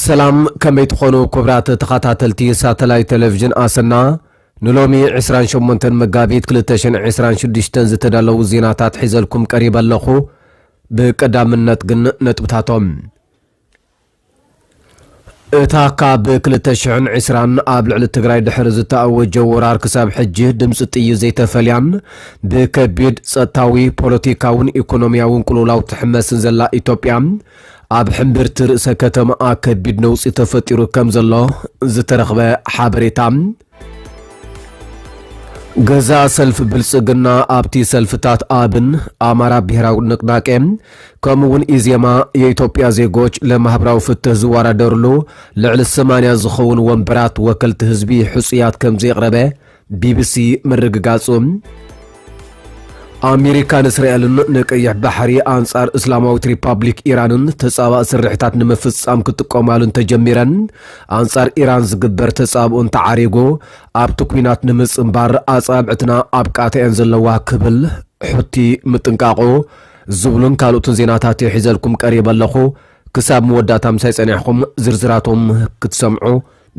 ሰላም ከመይ ትኾኑ ክብራት ተኸታተልቲ ሳተላይት ቴሌቪዥን ኣሰና ንሎሚ 28 መጋቢት 226 ዝተዳለዉ ዜናታት ሒዘልኩም ቀሪበ ኣለኹ ብቀዳምነት ግን ነጥብታቶም እታ ካብ ክልተ ሽሕን ዕስራን ኣብ ልዕሊ ትግራይ ድሕሪ ዝተኣወጀ ወራር ክሳብ ሕጂ ድምፂ ጥይት ዘይተፈልያን ብከቢድ ፀጥታዊ፣ ፖለቲካውን ኢኮኖሚያውን ቅልውላው ትሕመስን ዘላ ኢትዮጵያ ኣብ ሕምብርቲ ርእሰ ከተማኣ ከቢድ ነውፂ ተፈጢሩ ከምዘሎ ዝተረኽበ ሓበሬታ ገዛኢ ሰልፊ ብልጽግና ኣብቲ ሰልፍታት ኣብን፣ ኣማራ ብሄራዊ ንቅናቄ፣ ከምኡ እውን ኢዜማ፣ የኢትዮጵያ ዜጎች ለማህበራዊ ፍትህ ዝወዳደርሉ ልዕሊ ሰማንያ ዝኸውን ወንበራት ወከልቲ ህዝቢ ሕጹያት ከምዘየቕረበ ቢቢሲ ምርግጋጹ ኣሜሪካ ንእስራኤልን ንቀይሕ ባሕሪ ኣንጻር እስላማዊት ሪፓብሊክ ኢራንን ተጻባእ ስርሒታት ንምፍጻም ክጥቀማሉ እንተጀሚረን ኣንጻር ኢራን ዝግበር ተጻብኦ እንተዓሪጎ ኣብቲ ኩናት ንምጽንባር ኣጻብዕትና ኣብ ቃታ እየን ዘለዋ ክብል ሑቲ ምጥንቃቑ ዝብሉን ካልኦትን ዜናታት እየ ሒዘልኩም ቀሪበ ኣለኹ። ክሳብ መወዳእታ ምሳይ ጸኒሕኹም ዝርዝራቶም ክትሰምዑ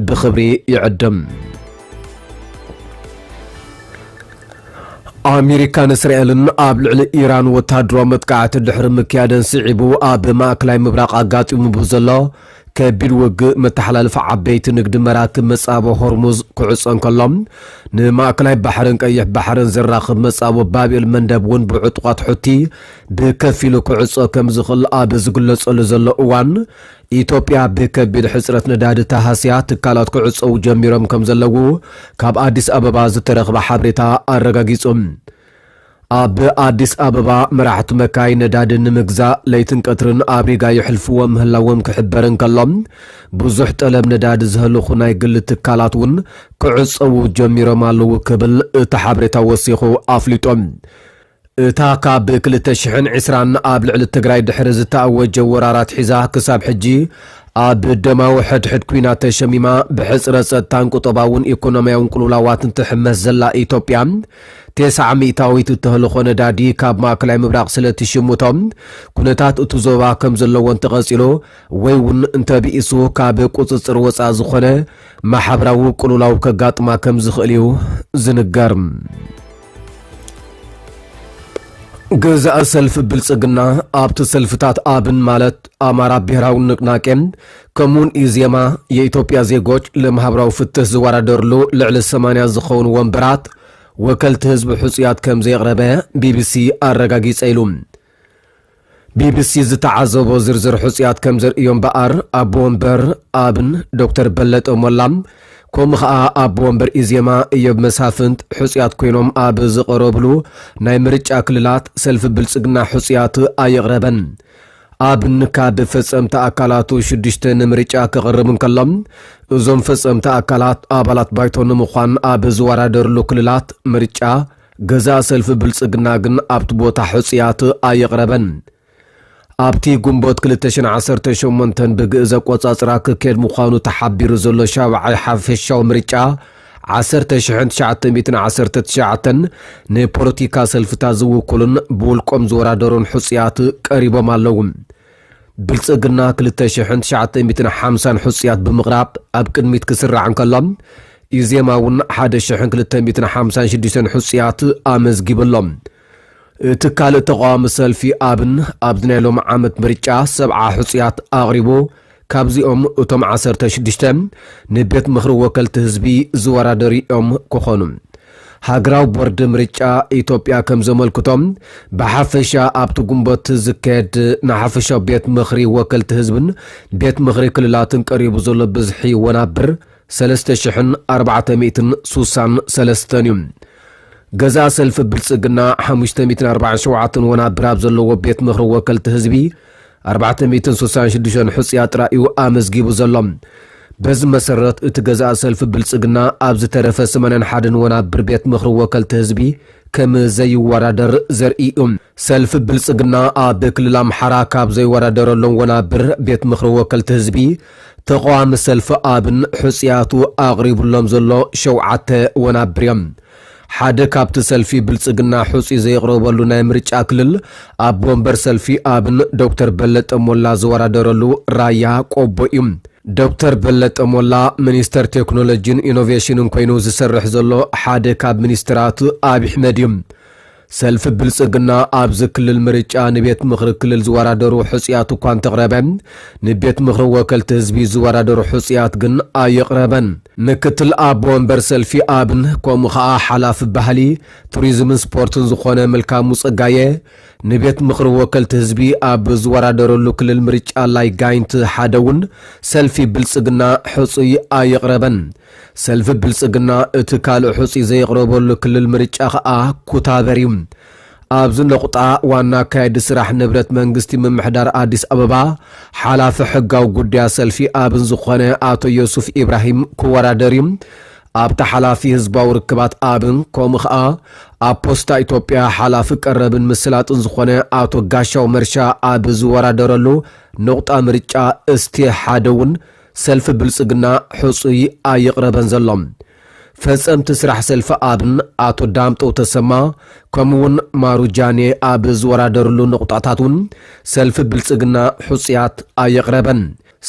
ብኽብሪ ይዕድም። ኣሜሪካን እስራኤልን ኣብ ልዕሊ ኢራን ወተሃደራዊ መጥቃዕቲ ድሕሪ ምክያደን ስዒቡ ኣብ ማእከላይ ምብራቕ ኣጋጢሙ ብዘሎ ከቢድ ውግእ መተሓላለፊ ዓበይቲ ንግዲ መራክብ መጻቦ ሆርሙዝ ክዕጾ እንከሎ ንማእከላይ ባሕርን ቀይሕ ባሕርን ዘራኽብ መጻቦ ባብኤል መንደብ እውን ብዕጡቓት ሑቲ ብከፊሉ ክዕጾ ከም ዝኽእል ኣብ ዝግለጸሉ ዘሎ እዋን ኢትዮጵያ ብከቢድ ሕፅረት ነዳዲ ተሃስያ ትካላት ክዕፀዉ ጀሚሮም ከምዘለዉ ካብ ኣዲስ ኣበባ ዝተረኽበ ሓብሬታ ኣረጋጊፁ። ኣብ ኣዲስ ኣበባ መራሕቲ መካይን ነዳዲ ንምግዛእ ለይትን ቀትርን ኣብ ሪጋ የሕልፍዎ ምህላዎም ክሕበር እንከሎ ብዙሕ ጠለብ ነዳዲ ዘህልኹ ናይ ግሊ ትካላት እውን ክዕፀዉ ጀሚሮም ኣለዉ ክብል እቲ ሓብሬታ ወሲኹ ኣፍሊጡ። እታ ካብ ክልተ ሽሕን ዕስራን ኣብ ልዕሊ ትግራይ ድሕሪ ዝተኣወጀ ወራር ኣትሒዛ ክሳብ ሕጂ ኣብ ደማዊ ሕድሕድ ኲናት ተሸሚማ ብሕጽረት ጸጥታን ቁጠባውን ኢኮኖሚያውን ቅልውላዋትን ትሕመስ ዘላ ኢትዮጵያ ቴስዓ ሚእታዊት እተህልኾ ነዳዲ ካብ ማእከላይ ምብራቕ ስለ ትሽምቶ ኩነታት እቱ ዞባ ከም ዘለዎ እንተቐጺሉ ወይ እውን እንተብኢሱ ካብ ቁጽጽር ወጻእ ዝኾነ ማሕበራዊ ቅልውላው ከጋጥማ ከም ዝኽእል እዩ ዝንገር። ገዛኢ ሰልፊ ብልጽግና ኣብቲ ሰልፍታት ኣብን ማለት ኣማራ ብሔራዊ ንቅናቄን ከምኡውን ኢዜማ የኢትዮጵያ ዜጎች ለማህበራዊ ፍትህ ዝወዳደርሉ ልዕሊ 80 ዝኸውን ወንበራት ወከልቲ ህዝቢ ሕፁያት ከም ዘየቕረበ ቢቢሲ ኣረጋጊጸ ኢሉ። ቢቢሲ ዝተዓዘቦ ዝርዝር ሕፁያት ከም ዘርእዮ እምበኣር ኣቦ ወንበር ኣብን ዶክተር በለጠ ሞላ ከምኡ ኸኣ ኣቦ ወንበር ኢዜማ እዮብ መሳፍንት ሕፁያት ኮይኖም ኣብ ዝቐረብሉ ናይ ምርጫ ክልላት ሰልፊ ብልፅግና ሕፁያት ኣየቕረበን። ኣብን ካብ ፈፀምቲ ኣካላቱ ሽዱሽተ ንምርጫ ክቕርብ እንከሎ እዞም ፈፀምቲ ኣካላት ኣባላት ባይቶ ንምዃን ኣብ ዝወዳደርሉ ክልላት ምርጫ ገዛኢ ሰልፊ ብልጽግና ግን ኣብቲ ቦታ ሕጹያት ኣየቕረበን። ኣብቲ ግንቦት ክልተ ሽሕን ዓሰርተን ሸሞንተን ብግእዝ ኣቆጻጽራ ክካየድ ምዃኑ ተሓቢሩ ዘሎ ሻብዓይ ሓፈሻዊ ምርጫ ዓሰርተ ሽሕን ትሽዓተ ሚእትን ዓሰርተ ትሽዓተን ንፖለቲካ ሰልፍታት ዝውክሉን ብውልቆም ዝወዳደሩን ሕጹያት ቀሪቦም ኣለዉ። ብልጽግና ክልተ ሽሕን ትሽዓተ ሚእትን ሓምሳን ሕጹያት ብምቕራብ ኣብ ቅድሚት ክስራዕ እንከሎ፣ ኢዜማ እውን ሓደ ሽሕን ክልተ ሚእትን ሓምሳን ሽዱሽተን ሕጹያት ኣመዝጊቡ ኣሎ። እቲ ካልእ ተቓዋሚ ሰልፊ ኣብን ኣብዚ ናይ ሎሚ ዓመት ምርጫ ሰብዓ ሕጹያት ኣቕሪቡ፣ ካብዚኦም እቶም ዓሰርተ ሽዱሽተ ንቤት ምኽሪ ወከልቲ ህዝቢ ዝወዳደሩ እዮም ክኾኑ። ሃገራዊ ቦርድ ምርጫ ኢትዮጵያ ከም ዘመልክቶ፣ ብሓፈሻ ኣብቲ ግንቦት ዝካየድ ንሓፈሻዊ ቤት ምኽሪ ወከልቲ ህዝብን ቤት ምኽሪ ክልላትን ቀሪቡ ዘሎ ብዝሒ ወናብር ሰለስተ ሽሕን ኣርባዕተ ሚእትን ሱሳን ሰለስተን እዩ። ገዛኢ ሰልፊ ብልፅግና ሓሙሽተ ሚእትን ኣርባዓን ሸውዓተን ወናብር ኣብ ዘለዎ ቤት ምኽሪ ወከልቲ ህዝቢ፣ ኣርባዕተ ሚእትን ስሳን ሽዱሽተን ሕጹያት ጥራይ እዩ ኣመዝጊቡ ዘሎ። በዚ መሰረት እቲ ገዛኢ ሰልፊ ብልጽግና ኣብ ዝተረፈ ስመነን ሓደን ወናብር ቤት ምኽሪ ወከልቲ ህዝቢ ከም ዘይወዳደር ዘርኢ እዩ። ሰልፊ ብልጽግና ኣብ ክልል ኣምሓራ ካብ ዘይወዳደረሎም ወናብር ቤት ምኽሪ ወከልቲ ህዝቢ ተቓዋሚ ሰልፊ ኣብን ሕጹያቱ ኣቕሪቡሎም ዘሎ ሸውዓተ ወናብር እዮም። ሓደ ካብቲ ሰልፊ ብልፅግና ሕፁይ ዘየቕረበሉ ናይ ምርጫ ክልል ኣቦ ወንበር ሰልፊ ኣብን ዶክተር በለጠ ሞላ ዝወዳደረሉ ራያ ቆቦ እዩ። ዶክተር በለጠ ሞላ ሚኒስተር ቴክኖሎጂን ኢኖቬሽንን ኮይኑ ዝሰርሕ ዘሎ ሓደ ካብ ሚኒስትራት ኣብይ ኣሕመድ እዩ። ሰልፊ ብልፅግና ኣብዚ ክልል ምርጫ ንቤት ምኽሪ ክልል ዝወዳደሩ ሕፁያት እኳ እንተቕረበ ንቤት ምኽሪ ወከልቲ ህዝቢ ዝወዳደሩ ሕፁያት ግን ኣየቕረበን። ምክትል ኣቦ ወንበር ሰልፊ ኣብን ከምኡ ከዓ ሓላፊ ባህሊ፣ ቱሪዝምን ስፖርትን ዝኾነ መልካሙ ፀጋየ ንቤት ምኽሪ ወከልቲ ህዝቢ ኣብ ዝወዳደረሉ ክልል ምርጫ ላይ ጋይንት ሓደ እውን ሰልፊ ብልፅግና ሕፁይ ኣየቕረበን። ሰልፊ ብልጽግና እቲ ካልእ ሕጹይ ዘየቕረበሉ ክልል ምርጫ ከኣ ኩታበር እዩ። ኣብዚ ነቑጣ ዋና ኣካያዲ ስራሕ ንብረት መንግስቲ ምምሕዳር ኣዲስ ኣበባ ሓላፊ ሕጋዊ ጉዳያት ሰልፊ ኣብን ዝኾነ ኣቶ ዮሱፍ ኢብራሂም ክወዳደር እዩ። ኣብታ ሓላፊ ህዝባዊ ርክባት ኣብን ከምኡ ከኣ ኣብ ፖስታ ኢትዮጵያ ሓላፊ ቀረብን ምስላጥን ዝኾነ ኣቶ ጋሻው መርሻ ኣብ ዝወዳደረሉ ነቑጣ ምርጫ እስቴ ሓደ እውን ሰልፊ ብልፅግና ሕፁይ ኣየቕረበን ዘሎ። ፈፀምቲ ስራሕ ሰልፊ ኣብን ኣቶ ዳምጠው ተሰማ ከምኡ እውን ማሩ ጃኔ ኣብ ዝወዳደርሉ ነቑጣታት እውን ሰልፊ ብልፅግና ሕፁያት ኣየቕረበን።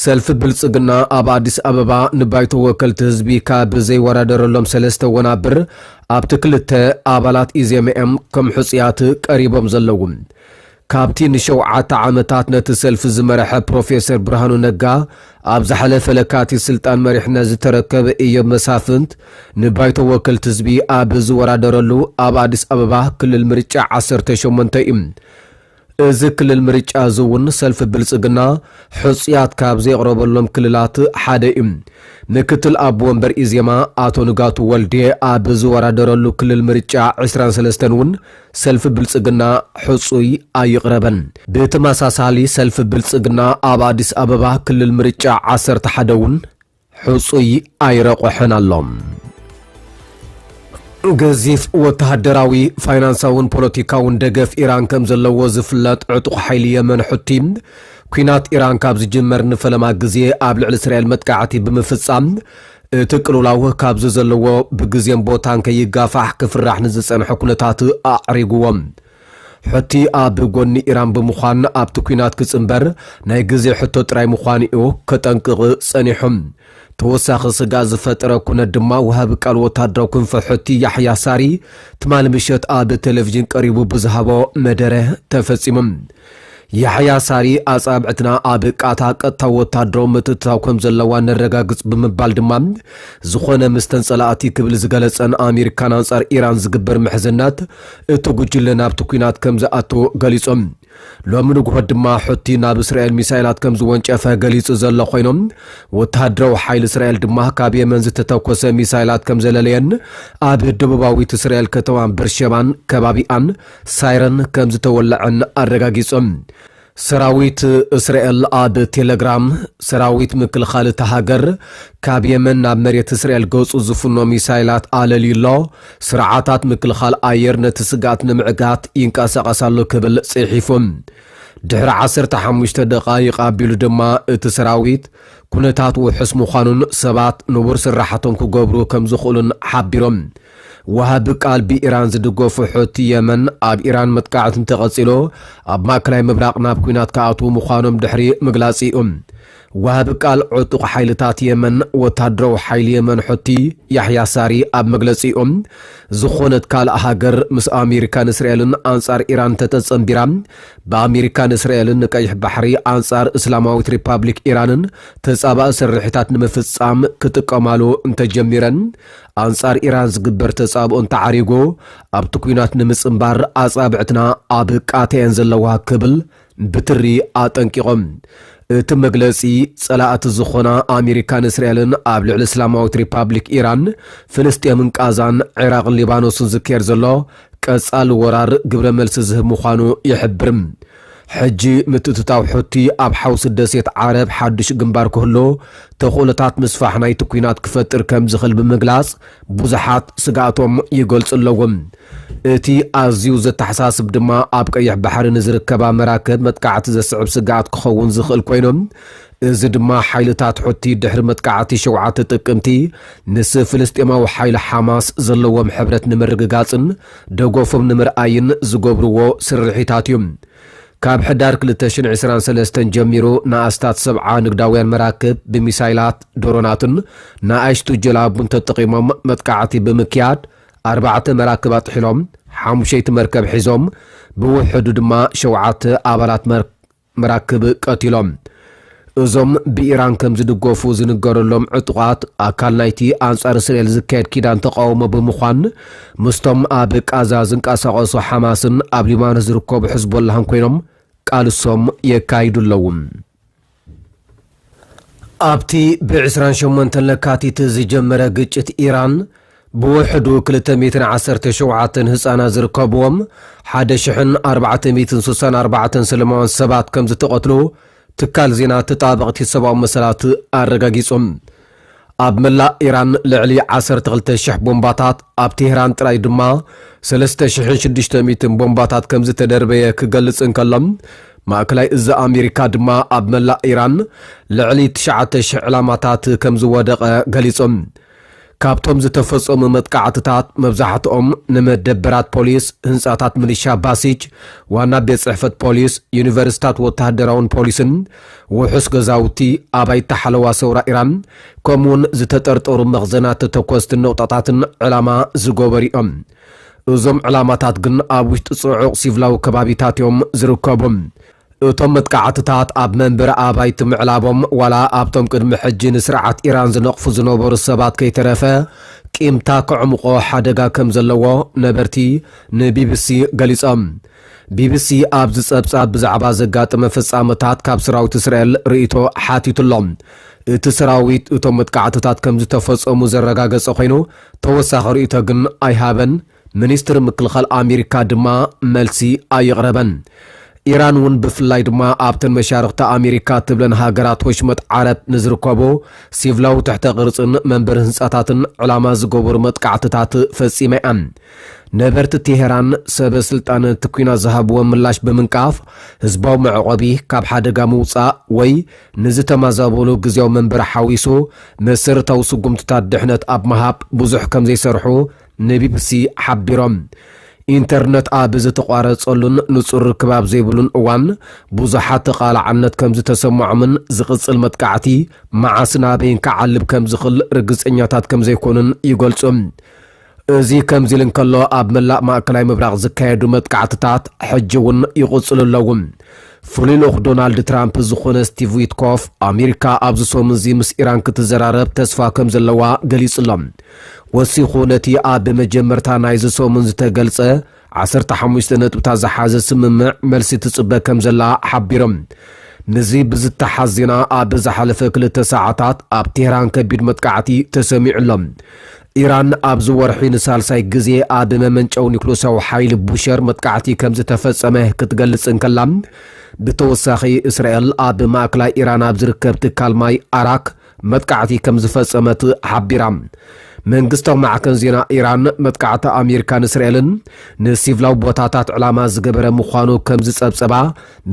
ሰልፊ ብልፅግና ኣብ ኣዲስ ኣበባ ንባይቶ ወከልቲ ህዝቢ ካብ ዘይወዳደረሎም ሰለስተ ወናብር ኣብቲ ክልተ ኣባላት ኢዜመ እዮም ከም ሕፁያት ቀሪቦም ዘለዉ። ካብቲ ንሸውዓተ ዓመታት ነቲ ሰልፊ ዝመረሐ ፕሮፌሰር ብርሃኑ ነጋ፣ ኣብ ዝሓለፈ ለካቲት ስልጣን መሪሕነት ዝተረከበ ኢዮብ መሳፍንት፣ ንባይቶ ወከልቲ ህዝቢ ኣብ ዝወዳደረሉ ኣብ ኣዲስ ኣበባ ክልል ምርጫ ዓሰርተ ሸሞንተ እዩ። እዚ ክልል ምርጫ እዚ እውን ሰልፊ ብልፅግና ሕፁያት ካብ ዘየቕረበሎም ክልላት ሓደ እዩ። ምክትል ኣቦ ወንበር ኢዜማ ኣቶ ንጋቱ ወልዴ ኣብ ዝወዳደረሉ ክልል ምርጫ ዕስራን ሰለስተን እውን ሰልፊ ብልፅግና ሕፁይ ኣይቕረበን። ብተመሳሳሊ ሰልፊ ብልፅግና ኣብ ኣዲስ ኣበባ ክልል ምርጫ ዓሰርተ ሓደ እውን ሕፁይ ኣይረቑሐን ኣሎ። ገዚፍ ወተሃደራዊ፣ ፋይናንሳውን ፖለቲካውን ደገፍ ኢራን ከም ዘለዎ ዝፍለጥ ዕጡቕ ሓይሊ የመን ሑቲ ኲናት ኢራን ካብ ዝጅመር ንፈለማ ግዜ ኣብ ልዕሊ እስራኤል መጥቃዕቲ ብምፍጻም እቲ ቅልውላው ካብዚ ዘለዎ ብግዜን ቦታን ከይጋፋሕ ክፍራሕ ንዝጸንሐ ኩነታት ኣዕሪጉዎ። ሑቲ ኣብ ጎኒ ኢራን ብምዃን ኣብቲ ኲናት ክጽንበር ናይ ግዜ ሕቶ ጥራይ ምዃኑ'ዩ ከጠንቅቕ ጸኒሑ። ተወሳኺ ስግኣት ዝፈጠረ ኩነት ድማ ወሃቢ ቃል ወተሃደራዊ ክንፊ ሑቲ ያሕያ ሳሪ ትማሊ ምሸት ኣብ ቴሌቪዥን ቀሪቡ ብዝሃቦ መደረ ተፈጺሙ። ያሕያ ሳሪ፣ ኣጻብዕትና ኣብ ቃታ ቀጥታዊ ወተሃደራዊ ምትእትታው ከም ዘለዋ ነረጋግጽ ብምባል ድማ፣ ዝኾነ ምስተን ጸላእቲ ክብል ዝገለጸን ኣሜሪካን ኣንጻር ኢራን ዝግበር ምሕዝነት፣ እቲ ጉጅለ ናብቲ ኲናት ከም ዝኣቱ ገሊጹ። ሎሚ ንግሆ ድማ ሑቲ ናብ እስራኤል ሚሳይላት ከም ዝወንጨፈ ገሊጹ ዘሎ ኮይኑ፣ ወተሃደራዊ ሓይሊ እስራኤል ድማ ካብ የመን ዝተተኮሰ ሚሳይላት ከም ዘለለየን ኣብ ደቡባዊት እስራኤል ከተማ በርሸባን ከባቢኣን ሳይረን ከምዝተወለዐን ኣረጋጊጾም። ሰራዊት እስራኤል ኣብ ቴለግራም፣ ሰራዊት ምክልኻል እታ ሃገር ካብ የመን ናብ መሬት እስራኤል ገጹ ዝፍኖ ሚሳይላት ኣለልዩ ኣሎ፣ ስርዓታት ምክልኻል ኣየር ነቲ ስግኣት ንምዕጋት ይንቀሳቐስ ኣሎ ክብል ጽሒፉ። ድሕሪ ዓሰርተ ሓሙሽተ ደቓይቕ ኣቢሉ ድማ እቲ ሰራዊት ኩነታት ውሑስ ምዃኑን ሰባት ንቡር ስራሓቶም ክገብሩ ከምዝኽእሉን ሓቢሮም። ወሃቢ ቃል ብኢራን ዝድገፉ ሑቲ የመን፣ ኣብ ኢራን መጥቃዕቲ እንተቐጺሉ፣ ኣብ ማእከላይ ምብራቕ ናብ ኲናት ክኣትዉ ምዃኖም ድሕሪ ምግላጽ'ዩ። ወሃቢ ቃል ዕጡቕ ሓይልታት የመን፣ ወተሃደራዊ ሓይሊ የመን ሑቲ፣ ያሕያ ሳሪ ኣብ መግለጺኡ፣ ዝኾነት ካልእ ሃገር ምስ ኣሜሪካን እስራኤልን ኣንጻር ኢራን እንተተጸንቢራ፣ ብኣሜሪካን እስራኤልን ንቀይሕ ባሕሪ ኣንጻር እስላማዊት ሪፓብሊክ ኢራንን ተጻባኢ ስርሒታት ንምፍጻም ክጥቀማሉ እንተጀሚረን፣ ኣንጻር ኢራን ዝግበር ተጻብኦ እንተዓሪጉ፣ ኣብቲ ኲናት ንምጽንባር ኣጻብዕትና ኣብ ቃታ እየን ዘለዋ ክብል ብትሪ ኣጠንቂቑ። እቲ መግለጺ፣ ጸላእቲ ዝኾና ኣሜሪካን እስራኤልን ኣብ ልዕሊ እስላማዊት ሪፓብሊክ ኢራን፣ ፍልስጤምን ቃዛን፣ ዒራቕን ሊባኖስን ዝካየድ ዘሎ ቀጻሊ ወራር ግብረ መልሲ ዝህብ ምዃኑ ይሕብር። ሕጂ ምትእትታው ሑቲ ኣብ ሓውሲ ደሴት ዓረብ ሓድሽ ግንባር ክህሉ ተኽእሎታት ምስፋሕ ናይቲ ኲናት ክፈጥር ከም ዝኽእል ብምግላጽ ብዙሓት ስግኣቶም ይገልጹ ኣለዉ። እቲ ኣዝዩ ዘተሓሳስብ ድማ ኣብ ቀይሕ ባሕሪ ንዝርከባ መራክብ መጥቃዕቲ ዘስዕብ ስግኣት ክኸውን ዝኽእል ኮይኑ እዚ ድማ ሓይልታት ሑቲ ድሕሪ መጥቃዕቲ ሸውዓተ ጥቅምቲ ምስ ፍልስጤማዊ ሓይሊ ሓማስ ዘለዎም ሕብረት ንምርግጋጽን ደገፎም ንምርኣይን ዝገብርዎ ስርሒታት እዩ። ካብ ሕዳር ክልተ ሽሕን ዕስራን ሰለስተን ጀሚሩ ንኣስታት ሰብዓ ንግዳውያን መራክብ ብሚሳይላት፣ ድሮናትን ንኣሽቱ ጀላቡን ተጠቒሞም መጥቃዕቲ ብምክያድ ኣርባዕተ መራክብ ኣጥሒሎም ሓሙሸይቲ መርከብ ሒዞም ብውሕዱ ድማ ሸውዓተ ኣባላት መራክብ ቀቲሎም። እዞም ብኢራን ከም ዝድገፉ ዝንገረሎም ዕጡቓት፣ ኣካል ናይቲ ኣንጻር እስራኤል ዝካየድ ኪዳን ተቓውሞ ብምዃን፣ ምስቶም ኣብ ቓዛ ዝንቀሳቐሱ ሓማስን ኣብ ሊባኖስ ዝርከቡ ሕዝቦላህን ኮይኖም ቃልሶም የካይዱ ኣለዉ። ኣብቲ ብ ዕስራን ሸሞንተን ለካቲት ዝጀመረ ግጭት ኢራን፣ ብውሕዱ ክልተ ሚእትን ዓሰርተ ሸውዓተን ህጻናት ዝርከብዎም ሓደ ሽሕን ኣርባዕተ ሚእትን ስሳን ኣርባዕተን ሰለማውያን ሰባት ከምዝተቐትሉ ትካል ዜና ተጣበቕቲ ሰብኣዊ መሰላት ኣረጋጊጹ። ኣብ መላእ ኢራን ልዕሊ ዓሰርተ ክልተ ሽሕ ቦምባታት፣ ኣብ ቴህራን ጥራይ ድማ ሰለስተ ሽሕን ሽዱሽተ ሚእትን ቦምባታት ከምዝተደርበየ ክገልጽ እንከሎ፣ ማእከላይ እዝ ኣሜሪካ ድማ ኣብ መላእ ኢራን ልዕሊ ትሽዓተ ሽሕ ዕላማታት ከምዝወደቐ ገሊጹ። ካብቶም ዝተፈጸሙ መጥቃዕትታት መብዛሕትኦም ንመደበራት ፖሊስ፣ ህንጻታት ምልሻ ባሲጅ፣ ዋና ቤት ጽሕፈት ፖሊስ፣ ዩኒቨርስታት ወተሃደራውን ፖሊስን፣ ውሑስ ገዛውቲ፣ ኣባይቲ ሓለዋ ሰውራ ኢራን፣ ከምኡ'ውን ዝተጠርጠሩ መኽዘናት ተተኮስቲ ነቑጣታትን ዕላማ ዝገበሩ'ዮም። እዞም ዕላማታት ግን ኣብ ውሽጢ ጽዑቕ ሲቭላዊ ከባቢታት'ዮም ዝርከቡ። እቶም መጥቃዕትታት ኣብ መንበሪ ኣባይቲ ምዕላቦም፣ ዋላ ኣብቶም ቅድሚ ሕጂ ንስርዓት ኢራን ዝነቕፉ ዝነበሩ ሰባት ከይተረፈ ቂምታ ከዕሙቖ ሓደጋ ከምዘለዎ ነበርቲ ንቢቢሲ ገሊጾም። ቢቢሲ ኣብዚ ጸብጻብ ብዛዕባ ዘጋጠመ ፍጻመታት ካብ ሰራዊት እስራኤል ርእይቶ ሓቲቱ ኣሎ። እቲ ሰራዊት እቶም መጥቃዕትታት ከምዝተፈጸሙ ዘረጋገጸ ኾይኑ፣ ተወሳኺ ርእይቶ ግን ኣይሃበን፣ ሚኒስትሪ ምክልኻል ኣሜሪካ ድማ መልሲ ኣየቕረበን። ኢራን እውን ብፍላይ ድማ ኣብተን መሻርኽቲ ኣሜሪካ እትብለን ሃገራት ወሽመጥ ዓረብ ንዝርከቡ ሲቭላዊ ትሕተ ቅርጽን መንበሪ ህንጻታትን ዕላማ ዝገበሩ መጥቃዕትታት ፈጺማ እያ። ነበርቲ ቴሄራን ሰበ ስልጣን እቲ ኲናት ዝሃብዎ ምላሽ ብምንቃፍ፣ ህዝባዊ መዕቆቢ ካብ ሓደጋ ምውጻእ ወይ ንዝተማዛበሉ ግዝያዊ መንበሪ ሓዊሱ መሰረታዊ ስጉምትታት ድሕነት ኣብ ምሃብ ብዙሕ ከምዘይሰርሑ ንቢቢሲ ሓቢሮም። ኢንተርነት ኣብ ዝተቋረጸሉን ንጹር ርክብ ኣብ ዘይብሉን እዋን ብዙሓት ተቓላዕነት ከምዝተሰምዖምን ዝቕጽል መጥቃዕቲ መዓስን ኣበይን ክዓልብ ከምዝኽል ርግጸኛታት ከምዘይኮኑን ይገልጹ። እዚ ከምዚ ኢሉ እንከሎ፣ ኣብ መላእ ማእከላይ ምብራቕ ዝካየዱ መጥቃዕትታት ሕጂ እውን ይቕጽሉ ኣለዉ። ፍሉይ ልኡኽ ዶናልድ ትራምፕ ዝዀነ ስቲቭ ዊትኮፍ፣ ኣመሪካ ኣብዚ ሰሙን እዚ ምስ ኢራን ክትዘራረብ ተስፋ ከም ዘለዋ ገሊጹ'ሎ። ወሲኹ ነቲ ኣብ መጀመርታ ናይዚ ሰሙን ዝተገልጸ ዓሰርተ ሓሙሽተ ነጥብታት ዝሓዘ ስምምዕ መልሲ ትጽበ ከም ዘላ ሓቢሮም። ምስዚ ብዝተሓዝ ዜና ኣብ ዝሓለፈ ክልተ ሰዓታት ኣብ ቴህራን ከቢድ መጥቃዕቲ ተሰሚዑ ኣሎ። ኢራን ኣብዚ ወርሒ ንሳልሳይ ግዜ ኣብ መመንጨዊ ኒኩለሳዊ ሓይሊ ቡሸር መጥቃዕቲ ከም ዝተፈጸመ ክትገልጽ እንከላ፣ ብተወሳኺ እስራኤል ኣብ ማእከላይ ኢራን ኣብ ዝርከብ ትካል ማይ ኣራክ መጥቃዕቲ ከም ዝፈጸመት ሓቢራ። መንግስታዊ ማዕከን ዜና ኢራን፣ መጥቃዕቲ ኣሜሪካን እስራኤልን ንሲቭላዊ ቦታታት ዕላማ ዝገበረ ምዃኑ ከም ዝጸብጸባ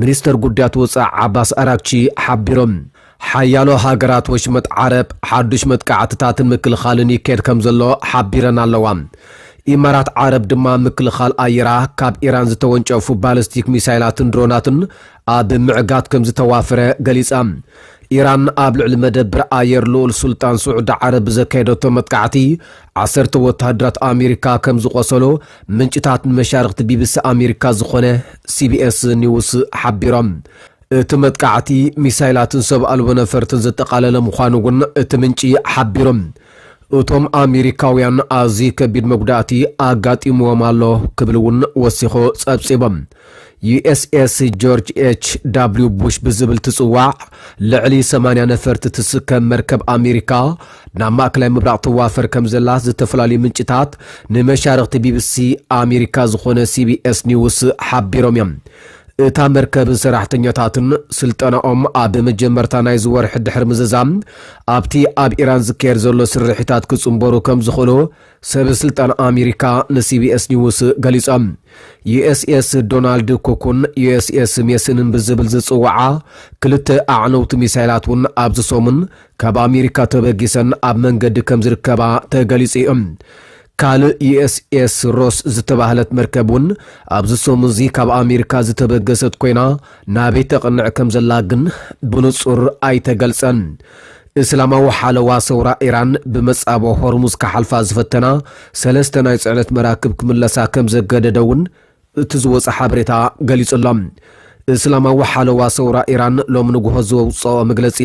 ሚኒስተር ጉዳያት ወጻኢ ዓባስ ኣራግቺ ሓቢሮም። ሓያሎ ሃገራት ወሽመጥ ዓረብ ሓዱሽ መጥቃዕትታትን ምክልኻልን ይካየድ ከም ዘሎ ሓቢረን ኣለዋ። ኢማራት ዓረብ ድማ ምክልኻል ኣየራ ካብ ኢራን ዝተወንጨፉ ባለስቲክ ሚሳይላትን ድሮናትን ኣብ ምዕጋት ከምዝተዋፈረ ገሊጻ። ኢራን ኣብ ልዕሊ መደብር ኣየር ልኡል ሱልጣን ስዑዲ ዓረብ ብዘካየደቶ መጥቃዕቲ ዓሰርተ ወተሃደራት ኣሜሪካ ከምዝቖሰሉ ምንጭታት ንመሻርኽቲ ቢቢሲ ኣሜሪካ ዝኾነ ሲቢኤስ ኒውስ ሓቢሮም። እቲ መጥቃዕቲ ሚሳይላትን ሰብ ኣልቦ ነፈርትን ዘጠቓለለ ምዃኑ እውን እቲ ምንጪ ሓቢሩ። እቶም ኣሜሪካውያን ኣዝዩ ከቢድ መጉዳእቲ ኣጋጢምዎም ኣሎ ክብል እውን ወሲኹ ጸብጺቡ። ዩኤስኤስ ጆርጅ ኤች ዳብሊው ቡሽ ብዝብል ትጽዋዕ ልዕሊ 80 ነፈርቲ ትስከም መርከብ ኣሜሪካ ናብ ማእከላይ ምብራቕ ትዋፈር ከም ዘላ ዝተፈላለዩ ምንጭታት ንመሻርኽቲ ቢቢሲ ኣሜሪካ ዝኾነ ሲቢኤስ ኒውስ ሓቢሮም እዮም። እታ መርከብን ሰራሕተኛታትን ስልጠናኦም ኣብ መጀመርታ ናይዚ ወርሒ ድሕሪ ምዝዛም ኣብቲ ኣብ ኢራን ዝካየድ ዘሎ ስርሒታት ክጽንበሩ ከም ዝኽእሉ ሰብ ስልጣን ኣሜሪካ ንሲቢኤስ ኒውስ ገሊጾም። ዩኤስኤስ ዶናልድ ኩኩን ዩኤስኤስ ሜስንን ብዝብል ዝጽውዓ ክልተ ኣዕነውቲ ሚሳይላት እውን ኣብዚ ሰሙን ካብ ኣሜሪካ ተበጊሰን ኣብ መንገዲ ከም ዝርከባ ተገሊጹ እዩ። ካልእ ዩኤስኤስ ሮስ ዝተባህለት መርከብ እውን ኣብዚ ሰሙንዚ ካብ ኣሜሪካ ዝተበገሰት ኮይና ናበይ ተቕንዕ ከም ዘላ ግን ብንጹር ኣይተገልጸን። እስላማዊ ሓለዋ ሰውራ ኢራን ብመጻብቦ ሆርሙዝ ክሓልፋ ዝፈተና ሰለስተ ናይ ጽዕነት መራክብ ክምለሳ ከም ዘገደደ'ውን እቲ ዝወጸ ሓበሬታ ገሊጹ'ሎ። እስላማዊ ሓለዋ ሰውራ ኢራን ሎሚ ንግሆ ዘውጽኦ መግለጺ፣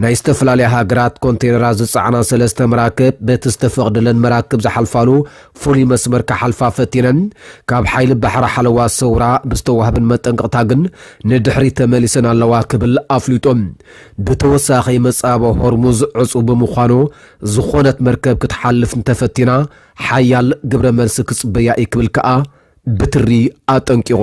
ናይ ዝተፈላለያ ሃገራት ኮንተይነራት ዝጸዓና ሰለስተ መራክብ በቲ ዝተፈቕደለን መራክብ ዝሓልፋሉ ፍሉይ መስመር ክሓልፋ ፈቲነን ካብ ሓይሊ ባሕሪ ሓለዋ ሰውራ ብዝተዋህበን መጠንቀቕታ ግን ንድሕሪት ተመሊሰን ኣለዋ ክብል ኣፍሊጡ። ብተወሳኺ መጻበ ሆርሙዝ ዕጹው ብምዃኑ ዝኾነት መርከብ ክትሓልፍ እንተፈቲና ሓያል ግብረ መልሲ ክጽበያ እዩ ክብል ከኣ ብትሪ ኣጠንቂቑ።